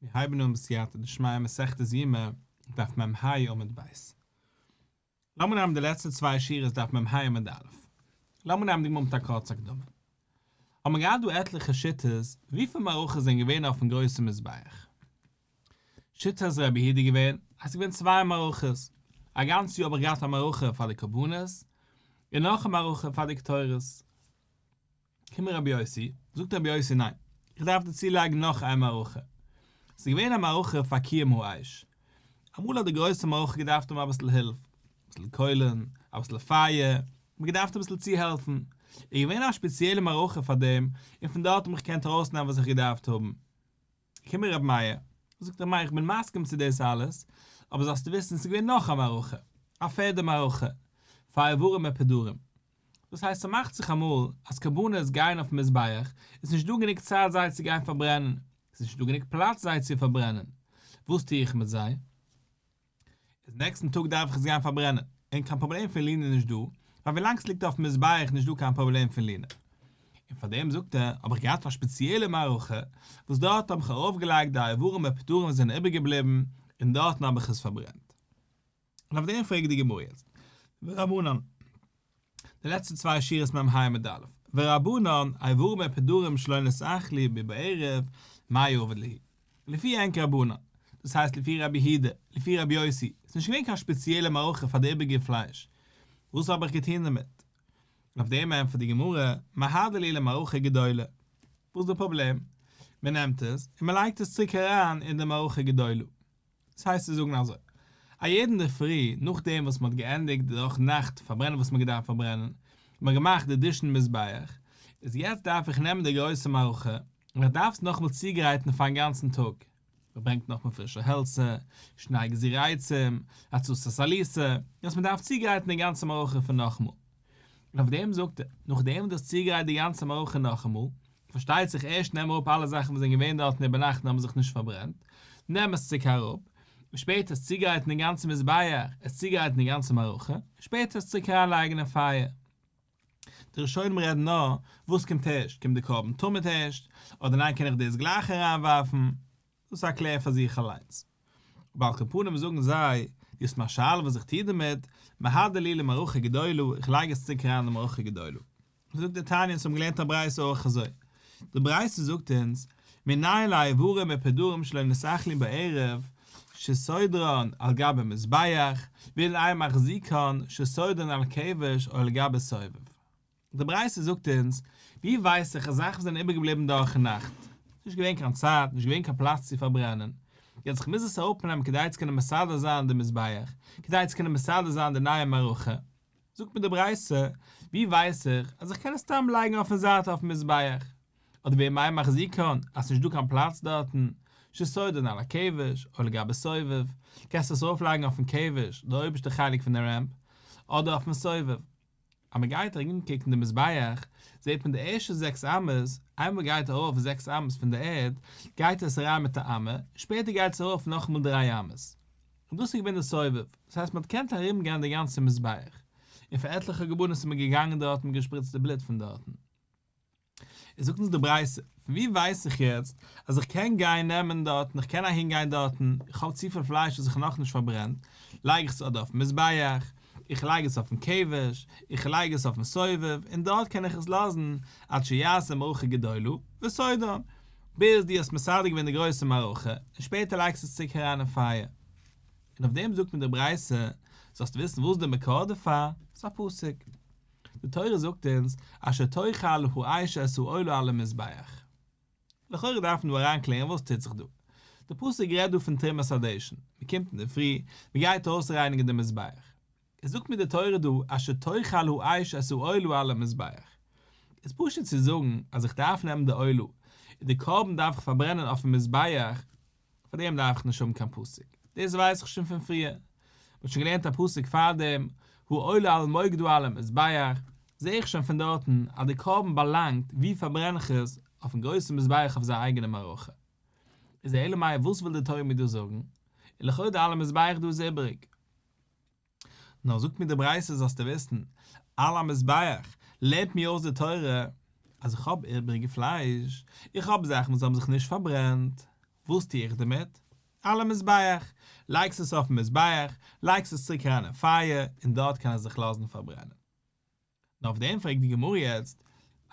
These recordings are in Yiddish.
מיר הייבן אן בסייעתא דשמיא מסכת יומא, דף מ ה עמוד ב'. לאמיר נעמען די לעצטע צוויי שורות דף מ ה עמוד א'. לאמיר נעמען די גמרא מיט א קורץ הקדמה. האט מען געהאט דא עטליכע שיטות וויפיל מערכות זענען געווען אויפן גרויסן מזבח. שיטת רבי איד איז געווען אז ס'איז געווען צוויי מערכות, א גאנץ יאר האב איך געהאט א מערכה פאר די קרבנות, און נאך א מערכה פאר די קטורת. קומען רבי יוסי, זאגט רבי יוסי ניין, איך דארף דיר צולייגן נאך איין מערכה. ס'איז געווען א מערכה פאר קיום האש. אמאל האט די גרויסע מערכה געדארפט האבן אביסל הילף, אביסל קוילן, אביסל פייער, מ'האט געדארפט אביסל צוהעלפן. איז געווען א שפעציעלע מערכה פאר דעם, און פון דארט האב איך געקענט ארויסנעמען וואס איך געדארפט האבן. קומען רבי מאיר, זאגט רבי מאיר איך בין מסכים צו דאס אלעס, אבער זאלסטו וויסן עס איז געווען נאך א מערכה, א פערדע מערכה, פאר איברים מיט פדרים. דאס הייסט ס'מאכט זיך אמאל אז קרבנות גייען אויפן מזבח, עס איז נישט דא גענוג צייט זיי צו גיין פארברענען, עס איז נישט דא גענוג פלאץ זיי צו פארברענען, וואס טו איך מיט זיי? איז נעקסטן טאג דארף איך עס גיין פארברענען, און קיין פראבלעם פון לינה נישט דא, ווייל ווילאנג עס ליגט אויפן מזבח נישט דא קיין פראבלעם פון לינה. און פאר דעם זאגט ער, האב איך געהאט א שפעציעלע מערכה, וואס דארט האב איך ארויפגעלייגט די איברים ופטורים וואס זענען איבערגעבליבן, און דארטן האב איך עס פארברענט. און אויף דעם פרעגט די גמרא יעצט, ורבנן. די לעצטע צוויי שורות מ ה עמוד א, ורבנן, איי ווארום עפ הדרים שלא נסלח לי ב בערב, מאי אבד לי'? לפי ענק רבנן, דאס הייסט לפי רבי היהודה, לפי רבי יוסי, איז נישט געווען קיין שפעציעלע מערכה פאר די איבעריגע פלייש, וואס האב איך געטון דערמיט? און אויף דעם ענטפערט די גמרא, מהדר לי למערכה גדולה, וואס איז די פראבלעם? מען נעמט עס און מען לייגט עס צוריק אריין אין די מערכה גדולה. דאס הייסט צו זאגן אזוי, א יעדן אינדערפרי נאכדעם וואס מען האט געענדיגט די דורך נאכט פארברענען וואס מען האט געדארפט פארברענען, און מען האט געמאכט די דישן מזבח, איז יעצט דארף איך נעמען די גרויסע מערכה, און איך דארף עס נאכאמאל צוגרייטן פארן גאנצן טאג. מען ברענגט נאכאמאל פרישע העלצער, שניי גזירה עצים, הצצת עליסה, יעצט מען דארף צוגרייטן די גאנצע מערכה פון נאכאמאל. און אויף דעם זאגט ער, נאכדעם וואס דו האסט צוגרייט די גאנצע מערכה נאכאמאל, פארשטייט זיך ערשט נעם אראפ אלע זאכן וואס זענען געווען דארטן איבערנאכט און האבן זיך נישט פארברענט, נעם עס צוריק אראפ, און שפעטער עס צוגרייטן דעם גאנצן מזבח, עס צוגרייטן די גאנצע מערכה, און שפעטער עס צוריק אריינלייגן אין פייער. די ראשונים רעדן נאר, וואס קומט ערשט, קומט די קרבן תמיד ערשט, אדער ניין קען איך דאס גלייך אריינווארפן? דאס איז א קלער פאר זיך אליינס. ועל כל פנים זאגן זיי, דו האסט מיין שאלה וואס איך טו דערמיט, מהדר לי למערכה גדולה, איך לייג עס צוריק אריין אין די מערכה גדולה. זאגט דער תניא אונז האבן געלערנט א ברייתא אויך אזוי, די ברייתא זאגט אונז, מנין לה איברים ופדרים שלא נשאכלין בערב שסודרן על גבי מזבח, ואין להם מחזיקן שסודרן על כבש או על גבי סובב. די ברייתא זאגט אונז, ווי ווייס איך אז זאכן זענען איבערגעבליבן דורכן נאכט? ס'איז נישט געווען קיין צייט, נישט געווען קיין פלאץ צו פארברענען. יעצט איך מוז עס אראפנעמען כדי צו קענען מסדר זיין די מזבח, כדי צו קענען מסדר זיין די נייע מערכה. זאגט מיר די ברייתא, ווי ווייס איך אז איך קען עס סתם לייגן אויפן זייט אויפן מזבח? אדער ווי מיין מחז י קאן, אז ס'נישט דא קיין פלאץ דארטן, שסודרן על הכבש, או לגבי סובב, קענסטו עס ארויפלייגן אויפן כבש, די אויבערשטע חלק פון די רעמפ, אדער אויפן סובב. אז מען גייט ארום קוקן די מזבח זעט מען די ערשטע זעקס אמות, איינמאל מען גייט ארויף זעקס אמות פון די ערד גייט עס אריין מיט א אמה, שפעטער גייט עס ארויף נאכאמאל דריי אמות, און דאס איז געווען די סובב, דאס הייסט מען האט געקענט ארום גיין די גאנצע מזבח, און פאר עטליכע קרבנות איז מען געגאנגען דארט און געשפריצט די בלוט פון דארטן. איז זאגט אונז די ברייתא, פון ווי ווייס איך יעצט אז איך קען גיין נעמען דארטן, איך קען אהין גיין דארטן, איך האב צופיל פלייש וואס איך האב נאכנישט פארברענט, לייג איך עס אדער אויפן מזבח, איך לייג עס אויפן כבש, איך לייג עס אויפן סובב, און דארט קען איך עס לאזן עד שיעשה מערכה גדולה, וסיידא, ביז דו האסט מסדר געווען די גרויסע מערכה, און שפעטער לייגסטו עס צוריק אריין אין פייער. און אויף דעם זאגט מיר די ברייתא, זאלסט וויסן וואס איז די מקור דערפאר, ס'איז א פסוק. די תורה זאגט אונז אשר תאכל האש את העולה על המזבח. לכאורה דארף מען דא אריין קלערן וואס טוט זיך דא. די פסוק רעדט דא פון תרומת הדשן, מען קומט אינדערפרי, מען גייט אויסרייניגן די מזבח. איז זאגט מיר די תורה דא אשר תאכל האש את העולה על המזבח. איז פשוט צו זאגן אז איך דארף נעמען די עולה, און די קרבן דארף איך פארברענען אויפן מזבח, פאר דעם דארף איך נישט האבן קיין פסוק, דאס ווייס איך שוין פון פריער, מ'האט שוין געלערנט א פסוק פאר דעם, הוא עולה על מוקדו על המזבח, זע איך שוין פון דארטן אז די קרבן באלאנגט, ווי פארברען איך עס, אויפן גרויסן מזבח אויף זיין אייגענע מערכה. איז אלא מאי וואס וויל די תורה מיר דא זאגן, און לכאורה על המזבח דא איז איבריג. נאר זאגט מיר די ברייתא זאלסטו וויסן, על המזבח, לערנט מיר אויס די תורה, אז איך האב איבריגע פלייש, איך האב זאכן וואס האבן זיך נישט פארברענט, וואס טו איך דערמיט? על המזבח, לייגסט עס אויפן מזבח, לייגסט עס צוריק אריין אין פייער, און דארט קען עס זיך לאזן פארברענען. נאר אויף דעם פרעגט די גמרא יעצט,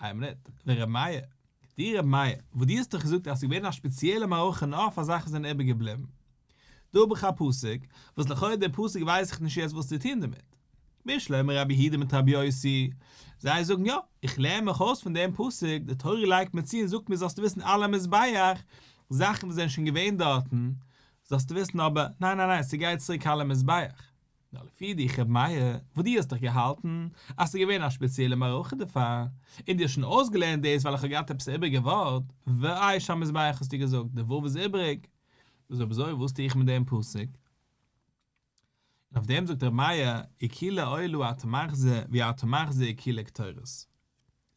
איין מינוט, ור' מאיר, די ר' מאיר, וואס דו האסט דאך געזאגט אז עס איז געווען א שפעציעלע מערכה נאר פאר זאכן וואס זענען איבער געבליבן, דא האב איך א פסוק, וואס לכאורה די פסוק ווייס איך נישט יעצט וואס צו טון דערמיט, משלי מרבי היהודה מיט רבי יוסי, זיי זאגן יא, איך לערן מיך אויס פון דעם פסוק, די תורה לייגט מיר צו און זאגט מיר זאלסטו וויסן אלע מזבח, זאכן וואס זענען שוין געווען דארטן, זאלסטו וויסן אבער, ניין ניין ניין, ס'גייט צוריק אלע מזבח, נאר לפי די חב מיה וואס דו האסט דאך געהאלטן אז ס'איז געווען א שפעציעלע מערכה דערפאר, און דו האסט שוין אויסגעלערנט דאס ווייל איך האב געהאט עפעס א איבריגע ווארט, ואיש המזבח האסטו געזאגט, די ו' איז איבריג, איז אויב אזוי וואס טו איך מיט דעם פסוק? און אויף דעם זאגט רב מיה, איקילע אוילו א תמח זה, ווי א תמח זה איקילע קטורת.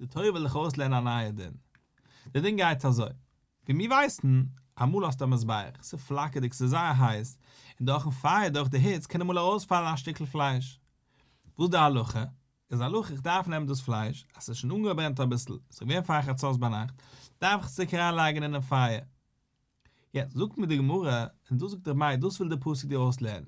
די תורה וויל דיך אויסלערנען א נייע דין. די דין גייט אזוי, ווי מיר ווייסן, אמאל האסטו א מזבח, ס'איז פלאקערדיג, ס'איז זייער הייס, און דורכ'ן פייער, דורך די היץ, קען אמאל ארויספאלן א שטיקל פלייש. וואס די הלכה? איז הלכה איך דארף נעמען דאס פלייש, אז ס'איז שוין אנגעברענט אביסל, ס'איז געווען פאר חצות ביינאכט, דארף איך עס צוריק אריינלייגן אינעם פייער. יעצט זאגט מיר די גמרא, און דאס זאגט אביי, דאס וויל די פסוק דיר אויסלערנען,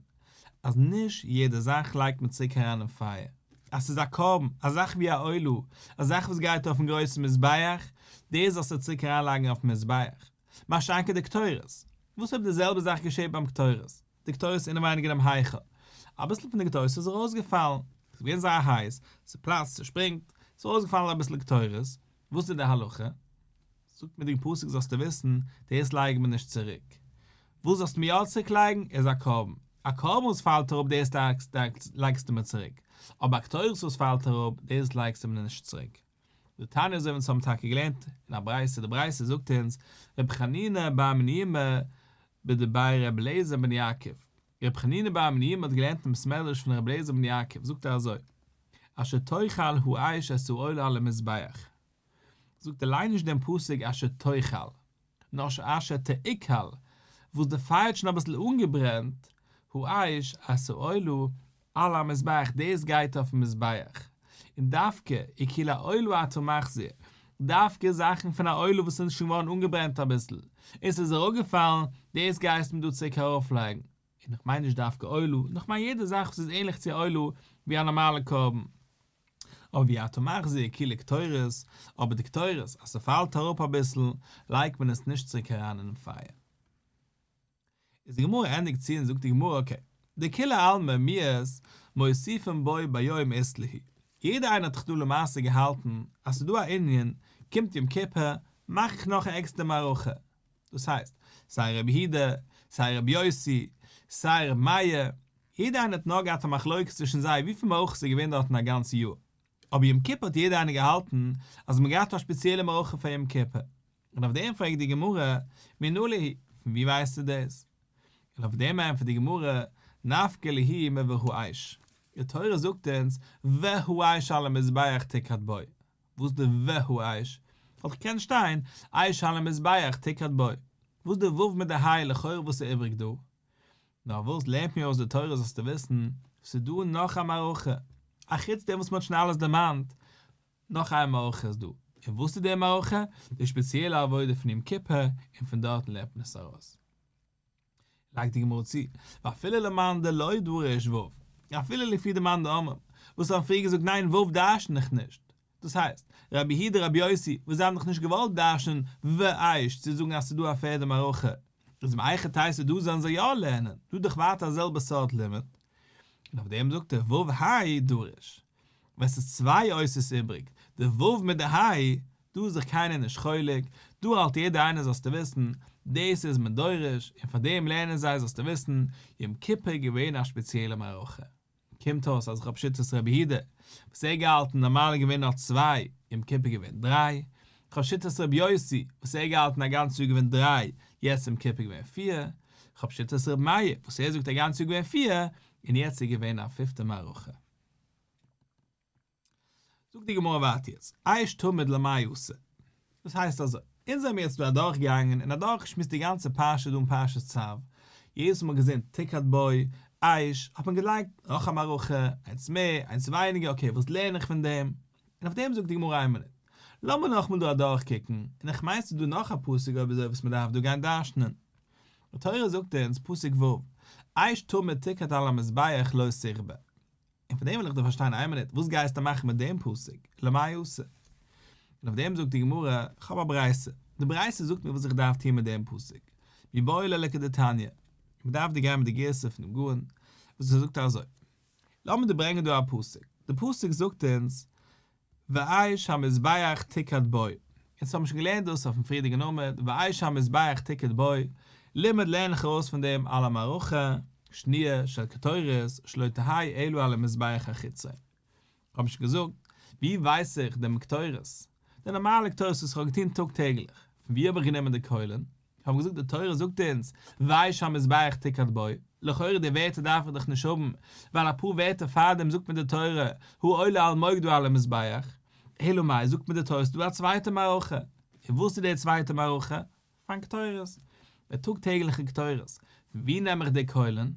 אז נישט יעדע זאך לייגט מען צוריק אריין אין פייער, אז ס'איז א קרבן, א זאך ווי א עולה, א זאך וואס גייט אויפן גרויסן מזבח, דאס זאלסטו צוריק אריין לייגן אויפן מזבח, מה שאין כן די קטורת, וואס אויב די זעלבע זאך געשעט ביים קטורת, די קטורת איז אינעווייניג אינעם היכל, אביסל פון די קטורת איז ארויסגעפאלן, ס'איז געווען זייער הייס, ס'פלאצט, ס'שפרינגט, ס'איז ארויסגעפאלן אביסל קטורת, וואס איז די הלכה? זאגט מיר די פסוק זאלסטו וויסן, דאס לייג מיר נישט צוריק. וואס זאלסטו מיר יא צוריק לייגן איז א קרבן. א קרבן וואס פאלט אראפ דאס לייגסטו מיר צוריק. אבער א קטורת וואס פאלט אראפ דאס לייגסטו מיר נישט צוריק. די תניא אזוי ווי אונז האבן טאקע געלערנט אין א ברייתא, די ברייתא זאגט אונז, רבי חנינא בר מנימא בדברי רבי אליעזר בן יעקב, רבי חנינא בר מנימא האט געלערנט אין בית מדרש פון רבי אליעזר בן יעקב, זאגט ער אזוי, אשר תאכל האש אסור עולה על המזבח. זאגט ער ליין נישט דעם פסוק אשר תאכל, נאר אשר תעכל, וואס די פייער האט שוין אביסל אנגעברענט, האש עשה עולה על המזבח, דאס גייט אויפן מזבח, און דווקא עקיל העולה אתה מחזיר, דווקא זאכן פון א עולה וואס איז שוין געווארן אנגעברענט אביסל, און ס'איז אראפגעפאלן, דאס גייסט מען דא צוריק ארויפלייגן, און איך מיין נישט דווקא עולה, נאר איך מיין יעדע זאך וואס איז ענליך צו א עולה, ווי א נארמאלע קרבן. אבער ווי אתה מחזיר כאילו קטורת, אבער די קטורת אז ס'פאלט אראפ אביסל לייגט מען עס נישט צוריק אריין אינעם פייער. איז די גמרא ענדיגט צו און זאגט די גמרא אקעי, דכולי עלמא מיעוט מוסיפין בו ביום איז לי', יעדער איינער האט דאך דא למעשה געהאלטן אז ס'דא א ענין קומט יום כיפור מאך איך נאך א עקסטער מערכה, דאס הייסט, סיי רבי הידא, סיי רבי יוסי, סיי רבי מאיר, יעדע איינער האט נאר געהאט א מחלוקת צווישן זיי וויפיל מערכות ס'איז געווען דארטן א גאנץ יאר, אבער יום כיפור האט יעדע איינער געהאלטן אז מ'האט געהאט א שפעציעלע מערכה פאר יום כיפור, און אויף דעם פרעגט די גמרא, מנא ליהי, פון ווי ווייסטו דאס? און אויף דעם ענטפערט די גמרא, נפקא ליהי מווער האיש, די תורה זאגט אונז, ווער האיש על המזבח תקרט בו, וואס די ו ה אייש? וואלט איך געקענט שטיין אייש על המזבח תקרת בו. וואס די ו' מיט די ה' לכאורה וואס איז איבריג דא? נאר וואס לערנט מיר אויס די תורה זאלסטו וויסן, ס'איז דא נאך א מערכה, אחוץ דעם וואס מ'האט שוין אלעס דערמאנט, נאך איין מערכה איז דא, און וואס איז די מערכה? די שפעציעלע עבודה פון יום כיפור, און פון דארטן לערנט מען עס ארויס. לייגט די גמרא צו, ואפילו למאן דלא דורש ו', אפילו לפי די מאן דאמר, וואס האבן פריער געזאגט ניין ו' דרשן איך נישט, דאס הייסט, רבי יהודה און רבי יוסי, וואס זיי האבן דאך נישט געוואלט דרש'נען ו' אייש צו זאגן אז ס'איז דא א פערדע מערכה, איז אם אייכע תוס' דא זאלן זיי יא לערנען, דא איז דאך ווייטער א זעלבע סארט לימוד, און אויף דעם זאגט ער ו' האי דורש, ווען ס'איז צוויי אותיות איבריג, די ו' מיט די ה', דא איז זיך קיינער נישט חולק, דא האלט יעדער איינער זאלסטו וויסן, דאס איז מען דורש, און פאר דעם לערנען זיי זאלסטו וויסן, יום כיפור איז געווען א שפעציעלע מערכה. קומט אויס אז איך האב שיטת רבי יהודה, וואס ער געהאלטן נארמאל איז געווען אלס צוויי, יום כיפור געווען דריי, איך האב שיטת רבי יוסי, וואס ער געהאלטן א גאנץ יאר געווען דריי, יעצט יום כיפור געווען פיר, איך האב שיטת רבי מאיר, וואס ער זאגט א גאנץ יאר געווען פיר, און יעצט איז געווען א פיפטע מערכה. זאגט די גמרא ווארט יעצט, אייש תמיד למאי עשה, דאס הייסט אזוי, אונז זעמיר יעצט דא אדורכגעגאנגען און אדורכגעשמועסט די גאנצע פרשה דא אין פרשת צו, יעדעס מאל געזען תקת בוי, אייש, האט מען געלייגט נאך א מערכה, איינס מער, איינס ווייניגער, אקעי וואס לערן איך פון דעם? און אויף דעם זאגט די גמרא איין מינוט, לאמיר נאכמאל דא אדורכקוקן, און איך מיינסטו דא נאך א פסוק אויב אזוי וואס מען דארף דא גיין דרשנ'ען? די תורה זאגט אונז, פסוק ו', אייש תמר תקד על המזבח לא סכבה. און פון דעם וויל איך דיר פארשטיין איין מינוט, וואס גייסטו מאכן מיט דעם פסוק, למאי יעשה? און אויף דעם זאגט די גמרא, כ'האב א ברייתא, די ברייתא זאגט מיר וואס איך דארף טון מיט דעם פסוק, מי באי ליה לקדתניא, מען דארף דיר גיין מיט די גירסא פונעם גאון, וואס ער זאגט אזוי. לאמיר דיר ברענגען דא א פסוק, די פסוק זאגט אונז, ואיש המזבח תיקד בו, און צו האבן שוין געלערנט דאס אויפן פריערדיגן עמוד, ואיש המזבח תיקד בו, לימוד לערן איך ארויס פון דעם על המערכה שניה של קטורת שלא תהי' אלא על המזבח החיצון. כ'האב נישט געזאגט, ווי ווייס איך דעם קטורת? די נארמאלע קטורת וואס כ'האב געטון טאג טעגליך, פון ווי האב איך גענומען די קוילען? כ'האב געזאגט די תורה זאגט אונז ויי שהמזבח תקעד בוי, לכאורה די ווערטער דארף איך דאך נישט האבן, ווייל אפאר ווערטער פארדעם זאגט מיר די תורה הוא עולה על מוקדו על המזבח, אלא מאי זאגט מיר די תורה ס'דא א צווייטע מערכה, און וואס איז די צווייטע מערכה? פארן קטורת, די טאג טעגליכע קטורת, פון ווי נעם איך די קוילן?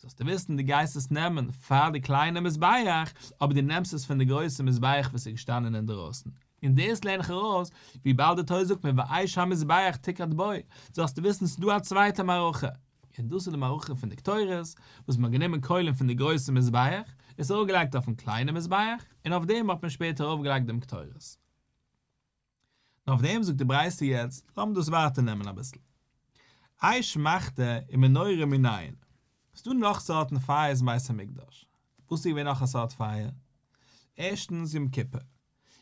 זאלסטו וויסן, דו גייסט עס נעמען פאר די קליינע מזבח, אבער דו נעמסט עס פון די גרויסע מזבח וואס איז געשטאנען אינדערויסן, און דאס לערן איך ארויס, וויבאלד די תוס' זאגט מיר ואיש המזבח תקרת בו, זאלסטו וויסן ס'דא א צווייטע מערכה, און דאס איז די מערכה פון די קטורת, וואס מען האט גענומען קוילן פון די גרויסע מזבח, עס ארויפגעלייגט אויפן קליינע מזבח, און אויף דעם האט מען שפעטער ארויפגעלייגט דעם קטורת. נאר אויף דעם זאגט די ברייתא יעצט, לאמיר דאס ווייטער נעמען אביסל. איי שמחת און מנורה מנין? ס'דא נאך סארטן פייערס אין בית המקדש. וואס איז געווען נאך א סארט פייער? ערשטנס יום כיפור.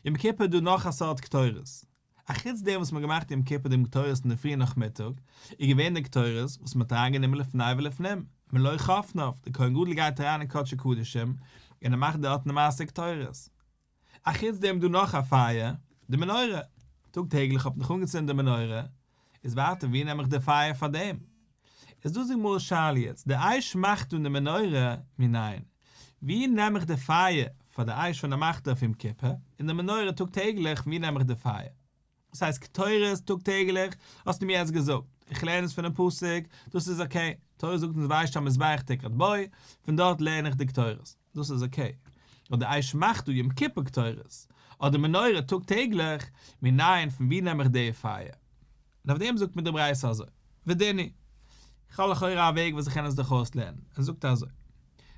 יום כיפור איז דא נאך א סארט קטורת. אחוץ דעם וואס מ'האט געמאכט יום כיפור דעם קטורת אין די פריע נאכמיטאג, איז געווען די קטורת וואס מ'האט אריינגענומען לפני ולפנים, מלא חפניו, דער כהן גדול גייט אריין אין קדשי קדשים און ער מאכט דארטן די מעשה קטורת. א חוץ דעם דא נאך א פייער, די מנורה, טאג טעגליך האב איך נאך אנגעצינדן די מנורה, איז ווייטער ווי נעם איך די פייער פאר דעם? איז דא זאג מר' שאל יעצט די אייש מאכט אן די מנורה מנין? ווי נעם איך די פייער פאר די אייש ווען ער מאכט אויף יום כיפור, און די מנורה טאג טעגליך ווי נעם איך די פייער? דאס הייסט קטורת טאג טעגליך, האסטו מיר יעצט געזאגט, איך לערן עס פונעם פסוק, דאס איז אקעי, תורה זאגט אונז וישתן מזבח תקרת בוי, פון דארט לערן איך די קטורת, דאס איז אקעי, אבער די אש מחטא יום כיפור קטורת, אדער מנורה טאג טעגליך, מנין, פון ווי נעם איך די פייער? און אויף דעם זאגט מיר די ברייתא אזוי, ודיני, איך האב לכאורה א וועג וואס איך קען עס דורך אויס לערנען, עס זאגט אזוי,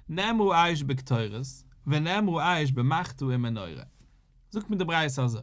נאמרו אש בקטורת, ונאמרו אש במחטא און מנורה, זאגט מיר די ברייתא אזוי,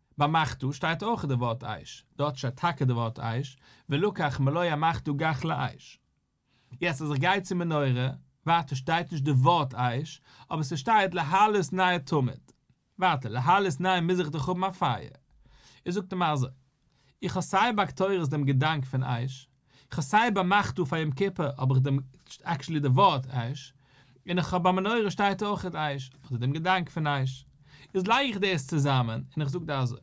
ביי מחתו שטייט אויך די ווארט אייש, דארט שטייט טאקע די ווארט אייש, ולקח מלוה מחתו גח לאייש. יעצט אז איך גיי צום מנורה, ווייטער שטייט נישט די ווארט אייש, אבער ס'שטייט להעלות ניי תמיד. ווייטער להעלות ניי מוז איך דאך האבן א פייער. ער זאגט אים אזוי, איך האב סיי ביי קטורת דעם געדאנק פון אייש, איך האב סיי באמערקט דא פאר יום כיפור האב איך דעם עקשעלי די ווארט אש און איך האב ביי מנורה שטייט אויכעט אש אדער דעם געדאנק פון אש איז לייג איך דאס צוזאמען און איך זאג דא אזוי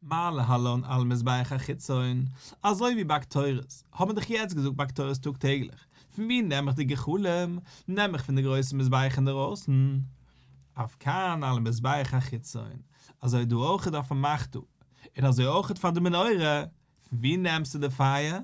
מה להלן על מזבח החיצון אזוי ווי ביי קטורת האט מען דאך יעצט געזאגט ביי קטורת טאג טעגליך פון ווי נעם איך די גחלים נעם איך פון די גרויסע מזבח אינדערויסן אויף כאן על מזבח החיצון אזוי דא אויכעט אויפן מכת און אזוי אויכעט פאר די מנורה פון ווי נעמסטו די פייער?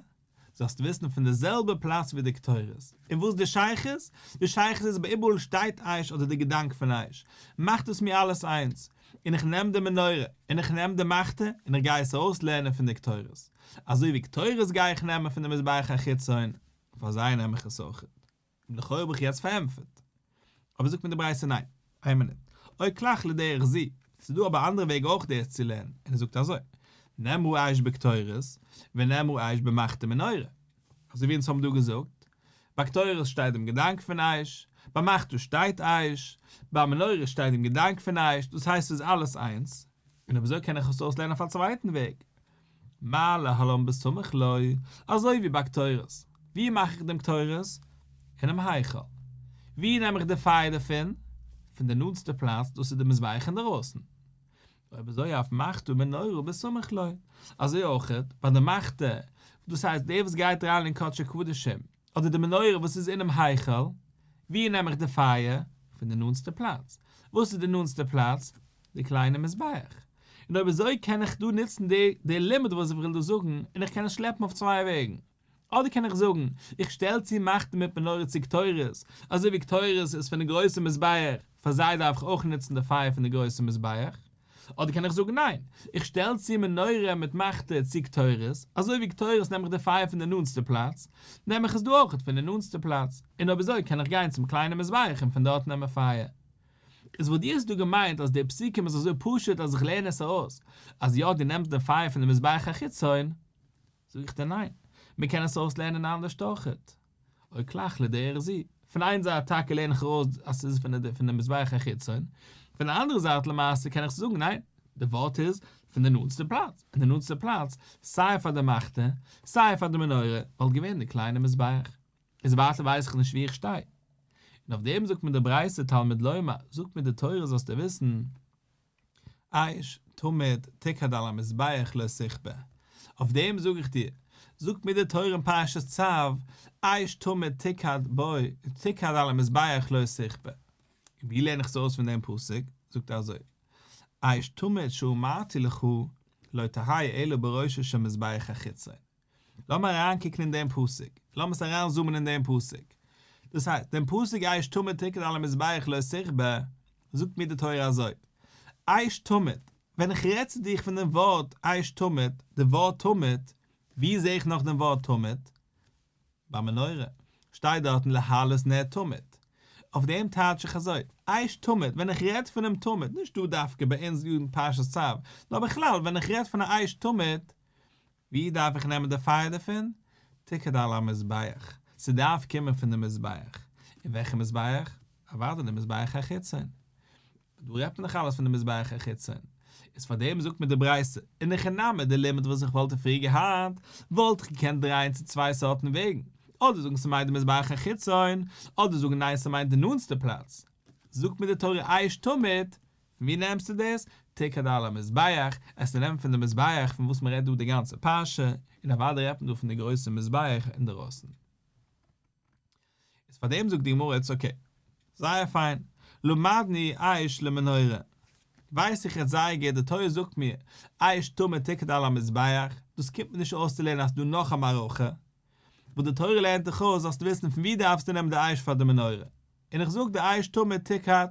זאלסט וויסן פון די זעלבע פלאץ ווי די קטורת. און וואס די שייכות? די שייכות איז ביי איבעראל שטייט אש אדער די געדאנק פון אש מאכט אויס מיר אלעס איינס. און איך נעם די מנורה, און איך נעם די מחטה, און איך גיי עס ארויס לערנען פון די קטורת. אזוי ווי קטורת גיי איך נעמען פון די מזבח החיצון, פאר זיי נעם איך עס אויכעט. און לכאורה האב איך יעצט פארענטפערט. אבער זאגט מיר די ברייתא ניין. איין מינוט. אוי קלאך לדרך זי. ס'איז דא אבער אנדערע וועג אויך דאס צו לערנען, און ער זאגט אזוי, נאמרו אייש בקטורת, ונאמרו אייש במחתה מנורה. אזוי ווי אונז האבן דא געזאגט, ביי קטורת שטייט דעם געדאנק פון אייש, ביי מחתה שטייט אייש, ביי מנורה שטייט דעם געדאנק פון אייש, דאס הייסט ס'איז אלעס איינס. און אויב אזוי קען איך עס אויסלערנען אויף א צווייטן וועג, מה להלן בסמוך לוי, אזוי ווי ביי קטורת, ווי מאך איך דעם קטורת? אינעם היכל. ווי נעם איך די פייער דערפון? פון די נאנטסטע פלאץ, דאס איז די מזבח אינדערויסן. אויב אזוי אויף מחטא מנורה בסמוך לוי, אזוי אויך ביי די מחטא, דאס הייסט דער וואס גייט אריין אין קדשי קדשים, אדער די מנורה וואס איז אינעם היכל, ווי נעם איך די פייער? פון די נאנטסטע פלאץ. וואס איז די נאנטסטע פלאץ? די קליינע מזבח, און אויב אזוי קען איך דא נוצן די די לימוד וואס איך וויל דא זאגן, און איך קען עס שלעפן אויף צוויי וועגן. אדער קען איך זאגן, איך שטעל צו מחטה מיט מנורה צו קטורת, אזוי ווי קטורת איז פון די גרויסע מזבח, פאר זיי דארף איך אויך נוצן די פייער פון די גרויסע מזבח. אדער קען איך זאגן, ניין, איך שטעל צו מנורה מיט מחטה צו קטורת, אזוי ווי קטורת נעם איך די פייער פון די נאנסטע פלאץ, נעם איך עס דא אויך פון די נאנסטע פלאץ, און אויב אזוי קען איך גיין צום קליינע מזבח און פון דארט נעמען פייער. איז וואלט יעצט דא געמיינט אז די פסוקים איז אזוי פשוט אז איך לערן עס ארויס אז יא דו נעמסט די פייער פון די מזבח החיצון, זאג איך דיר ניין, מען קען עס אויסלערנען אנדערשט אויכעט, אוי קלאך לי דרך זיל, פון איין זייט טאקע לערן איך ארויס אז ס'איז פון די פון די מזבח החיצון, פון די אנדערע זייט למעשה קען איך זאגן ניין, די ווארט איז פון די נאנטסטע פלאץ, און די נאנטסטע פלאץ סיי פאר די מחתה סיי פאר די מנורה וואלט געווען די קליינע מזבח. איז ווייטער ווייס איך נישט ווי איך שטיי. און אויף דעם זאגט מיר די ברייתא תלמיד לומר, זאג מיר די תורה זאלסטו וויסן, עייש תמיד תקד על המזבח לא סכבה, אויף דעם זאג איך דיר, זאגט מיר די תורה אין פרשת צב, עייש תמיד תקד בו, תקד על המזבח לא סכבה. און ווי לערן איך עס אויס פון דעם פסוק? זאגט ער אזוי, עייש תמיד שאמרתי לך, לא תהיה אלא בראשו של מזבח החיצון. לאמיר אריינקוקן אין דעם פסוק, לאמיר עס אריינזומען אין דעם פסוק. דאס הייסט, דעם פסוק אייש תמיד תקד על המזבח לא תכבה, זאגט מיר די תורה אזוי, אייש תמיד, ווען איך רעד צו דיך פון דעם ווארט אייש תמיד, די ווארט תמיד, וואו זע איך נאך דעם ווארט תמיד? ביי מנורה, שטייט דארטן להעלות נר תמיד. אויף דעם טייטש איך אזוי, אייש תמיד, ווען איך רעד פון דעם תמיד, נישט דא דווקא ביי אונז יארן פרשת צו, נאר בכלל ווען איך רעד פון א אייש תמיד, ווי דארף איך נעמען די פייער דערפון? תקד על המזבח, ס'דארף קומען פון די מזבח. און וועלכע מזבח? אוודאי די מזבח החיצון. דא רעדט מען דאך אלעס פון די מזבח החיצון. איז פאר דעם זאגט מיר די ברייתא, אין הכי נמי די לימוד וואס איך וואלט פריער געהאט, וואלט איך געקענט דרייען צו צוויי סארטן וועגן, אדער זאגן ס'מיינט די מזבח החיצון, אדער זאגן ניין ס'מיינט די נאנסטע פלאץ. זאגט מיר די תורה עייש תמיד, פון ווי נעמסטו דאס? תקד על המזבח, עס צו נעמען פון די מזבח פון וואס מען רעדט דא די גאנצע פרשה, און אוודאי רעדט מען דא פון די גרויסע מזבח אינדערויסן. איז פאר דעם זאגט די גמרא איטס אקעי. זייער פיין. למדני עייש למנורה. ווייס איך יעצט זייער גוט, די תורה זאגט מיר עייש טמא תקד על המזבח, דאס קומט מיר נישט אויס צו לערנען אז ס'דא נאך א מערכה, וואס די תורה לערנט דיך אויס זאלסטו וויסן פון ווי דארפסטו נעמען די עייש פאר די מנורה, און איך זאג די עייש טמא תקד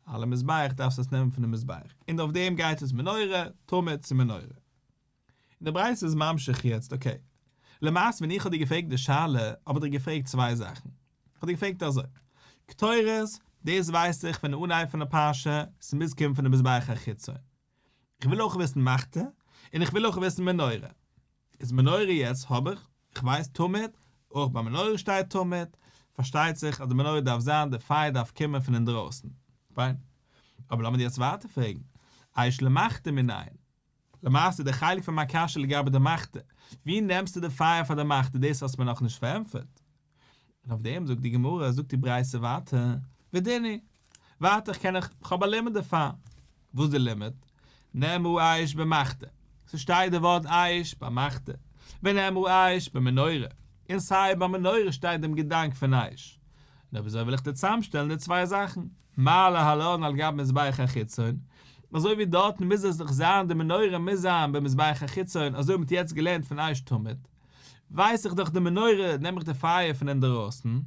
על המזבח דארפסט עס נעמען פונעם מזבח, און אויף דעם גייט עס מנורה, טמא צו מנורה. און די ברייתא איז ממשיך יעצט, אקעי. למעשה ווען איך האב דיר געפרעגט די שאלה, האב איך דיר געפרעגט צוויי זאכן. איך האב דיר געפרעגט אזוי, קטורת, דאס ווייס איך פון אנהייב פון די פרשה, ס'מוז קומען פונעם מזבח החיצון. כ'וויל אויך וויסן מחטה, און איך וויל אויך וויסן מנורה. איז מנורה יעצט האב איך, איך ווייס תמיד, אויך ביי מנורה שטייט תמיד, פארשטייט זיך אז די מנורה דארף זיין די פייער דארף קומען פון אינדרויסן. פיין. אבער לאמיר יעצט ווייטער פרעגן, אייש למחטה מנין? למעשה די חלק פון מיין קשיא לגבי די מחטה, ווי נעמסטו די פייער פאר די מחטה דאס האסט מיר נאכנישט פארענטפערט. און אויף דעם זאגט די גמרא, זאגט די ברייתא ווייטער, ודיני, ווארט איך קען איך, איך האב א לימוד דערפאר, וואס איז די לימוד? נאמרו אש במחטה, ס'שטייט די ווארט אש ביי מחטה, ונאמרו אש במנורה, און סיי ביי מנורה שטייט דעם געדאנק פון אש, נו וויאזוי וועל איך דיר צאמשטעלן די צוויי זאכן, מעלה העליון על גבי מזבח החיצון, אזוי ווי דארטן מוז עס דאך זיין די מנורה מוז זיין במזבח החיצון אזוי האט מען יעצט געלערנט פון אש תמיד, ווייס איך דאך די מנורה, נעם איך די פייער פון אינדערויסן,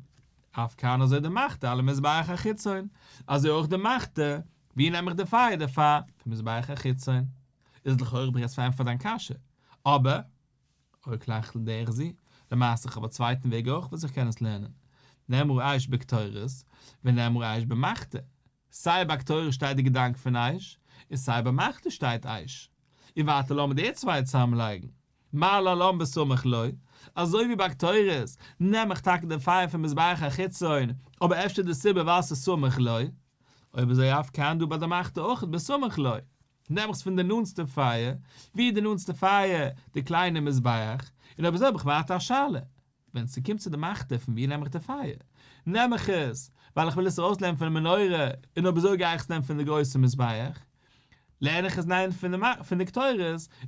אויף כנ אזוי די מחתה אל המזבח החיצון, אזוי אויך די מחתה, ווי נעם איך די פייער דערפאר, פון מזבח החיצון. איז לכאורה דו רעדסט פון ענטפערן דיין קשיא, אבער, אוי קלעכטל דער זי, למעשה איך האב א צווייטן וועג אויך וואס איך קען עס לערנען, נאמרו אייש בקטורת, ונאמרו אייש במחתה, סיי ביי קטורת שטייט די געדאנק פון עייש, און סיי ביי מחטא שטייט עייש. און ווייטער לאמיר די צוויי צוזאמלייגן. מה לא לן בסמך לו, אזוי ווי ביי קטורת, נעם איך טאקע די פייער פון מזבח החיצון, אבער אפשר די סיבה ווייל ס'איז סמוך לו? אויב אזוי אויף כ א און דא ביי די מחטא אויך בסמוך לו, נעם איך עס פון די נאנסטע פייער, ווי איז די נאנסטע פייער? די קליינע מזבח. און אויב אזוי האב איך ווייטער א שאלה. ווען ס'קומט צו די מאכט פון ווי נעם איך די פייער, נעם איך עס ווייל איך וויל עס ארויסנעמען פון די מנורה און אביסול גיי איך עס נעמען פון די גרויסע מזבח, לערן איך עס ניין פון די קטורת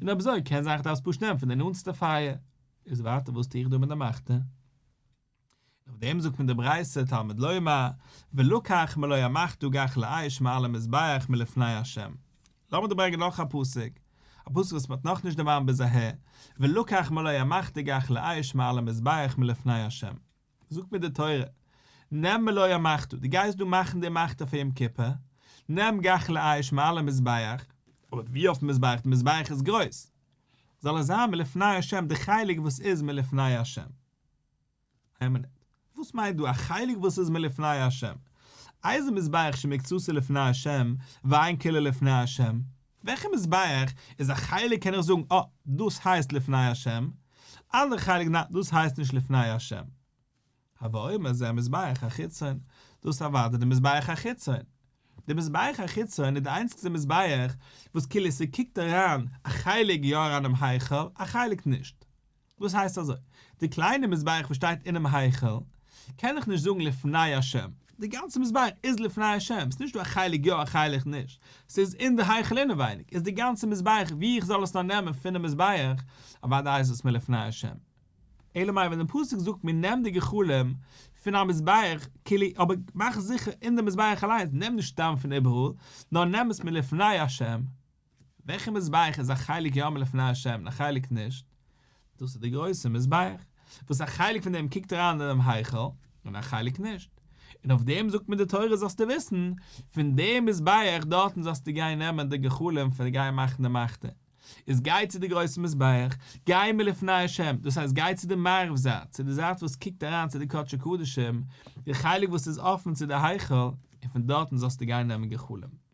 און אביסול, קען זיין איך דארף עס פשוט נעמען פון די נאנטסטע פייער. איז ווייטער וואס טו איך דא מיט די מאכט? אויף דעם זאגט מיר די ברייתא תלמוד לומר ולקח מלא המחט וגח לאש מעל המזבח מלפני ה', לאמיר דיר ברענגען נאך א פסוק, א פסוק וואס מען האט נאכנישט דערמאנט ביז אהער, ולקח מלא המח תגח לאיש מעל המזבח מלפני השם, זאגט מיר די תורה, נעם מלא המח ת, דו גייסט דא מאכן די מח ת פאר יום כיפור, נעם גח לאיש מעל המזבח, אבער ווי אויפן מזבח, די מזבח איז גרויס, זאל עס זיין מלפני השם, די חלק וואס איז מלפני השם. איין מינוט. וואס מיינט דא א חלק וואס איז מלפני ה'? איזה מזבח שמקצתו לפני ה' ואין כולו לפני ה'? וועלכע מזבח איז א חלק קען איך זאגן אה, דאס הייסט לפני ה', אנדערע חלק ניין דאס הייסט נישט לפני ה'? הוה אומר זה המזבח החיצון, דאס איז אוודאי די מזבח החיצון. די מזבח החיצון איז די איינציגסטע מזבח וואס כאילו ס'קוקט אריין א חלק יא אריין אינעם היכל א חלק נישט. וואס הייסט אזוי? די קליינע מזבח וואס שטייט אינעם היכל קען איך נישט זאגן לפני השם, די גאנצע מזבח איז לפני השם, ס'נישט דא א חלק יא א חלק נישט, ס'איז אין די היכל אינעווייניג, איז די גאנצע מזבח ווי איך זאל עס נאר נעמען פונעם מזבח, אוודאי איז עס מלפני השם. אלא מאי ווען די פסוק זאגט מיר נעם די גחלים פון א מזבח כלי אבער מאך זיכער אין די מזבח אליינס נעם נישט סתם פון איבעראל נאר נעם עס מלפני השם, וועלכע מזבח איז א חלק יאמר לפני ה' און א חלק נישט? דאס איז דער גרויסער מזבח, וואס א חלק פון דעם קוקט אריין אינעם היכל, און א חלק נישט. און אויף דעם זאגט מיר די תורה זאלסטו וויסן, פון דעם מזבח דארטן זאלסטו גיין נעמען די גחלים פון גיין מאכן די מלכות, איז גיי צו די גרויסע מזבח, גיי מלפני ה', דאס הייסט גיי צו די מערב זייט, צו די זייט וואס קוקט אריין צו די קדשי קדשים, די חלק וואס איז אפן צו די היכל, און פון דארטן זאלסטו גיין נעמען גחלים.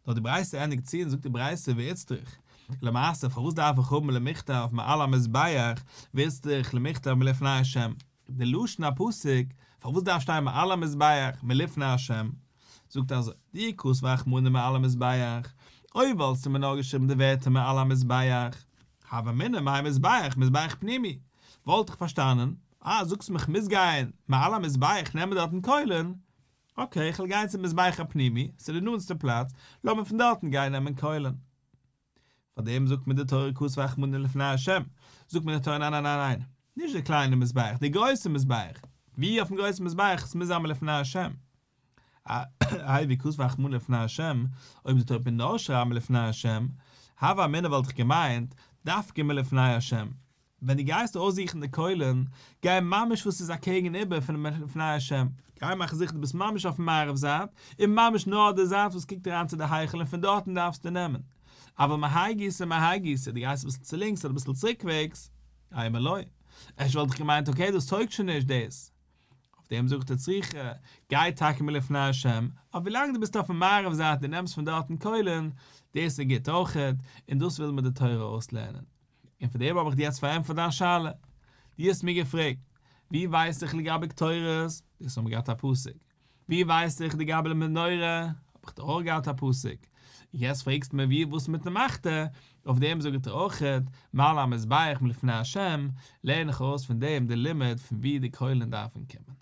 נאר די ברייתא ענדיגט צו און זאגט די ברייתא ואיצטריך למעשה פארוואס דארף איך האבן למכתב מעל המזבח ואיצטריך למכתב מלפני השם די לשון הפסוק פארוואס דארף שטיין מעל המזבח מלפני השם זאגט אזוי די עיקוס ואכמנא מעל המזבח אוי וואלסטו מיר נאר געשריבן די ווערטער מעל המזבח הוה אמינא מהי מזבח מזבח פנימי וואלט איך פארשטאנען אה זאגסט מיך מוז גיין מעל המזבח נעמען דארטן קוילען אקעי, איך וועל גיין צום מזבח הפנימי, ס'איז די נאנטסטע פלאץ, לאמיר פון דארטן גיין נעמען קוילן. פאר דעם זאגט מיר די תורה כוס ואכמניה לפני ה', זאגט מיר די תורה ניין ניין ניין ניין, נישט די קליינע מזבח, די גרויסע מזבח, ווי אויפן גרויסן מזבח ס'מוז זיין מלפני ה'. איי ווי כוס ואכמניה לפני ה', אויב די תורה וועט נאר שרייבן מלפני ה', הווה אמינא וואלט איך געמיינט, דווקא מלפני ה'. ווען דו גייסט אויסזוכן די קוילען, גיי ממש וואו ס'איז אקעגן איבער פונעם פני השם, גיי מאך זיכער דו ביסט ממש אויפן מערב זייט, און ממש נאר די זייט וואס קוקט אריין צו די היכל און פון דארטן דארפסטו נעמען, אבל מהאי גיסא מהאי גיסא, דו גייסט אביסל צו לינקס אדער אביסל צוריקוועגס, איי מלא, ערשט וואלט איך געמיינט אקעי דאס טויגט שוין נישט דאס, אויף דעם זאגט ער זיכער גיי טאקע מלפני השם, אבער ווילאנג דו ביסט אויפן מערב זייט און נעמסט פון דארטן קוילען, דאס איז גוט אויכעט, און דאס וויל מיר די תורה אויסלערנען, און פון דעם האב איך דיר יעצט פארענטפערט דיין שאלה. דו האסט מיר געפרעגט, ווי ווייס איך לגבי קטורת? דאס האבן מיר געהאט א פסק. ווי ווייס איך לגבי די מנורה? האב איך דאך אויך געהאט א פסק. און יעצט פרעגסטו מיר ווי און וואס מיטן מחטא? אויף דעם זאג איך דיר אויך, מעל המזבח מלפני השם, לערן איך אויס פון דעם די לימוד פון ווי די קוילן דארפן קומען.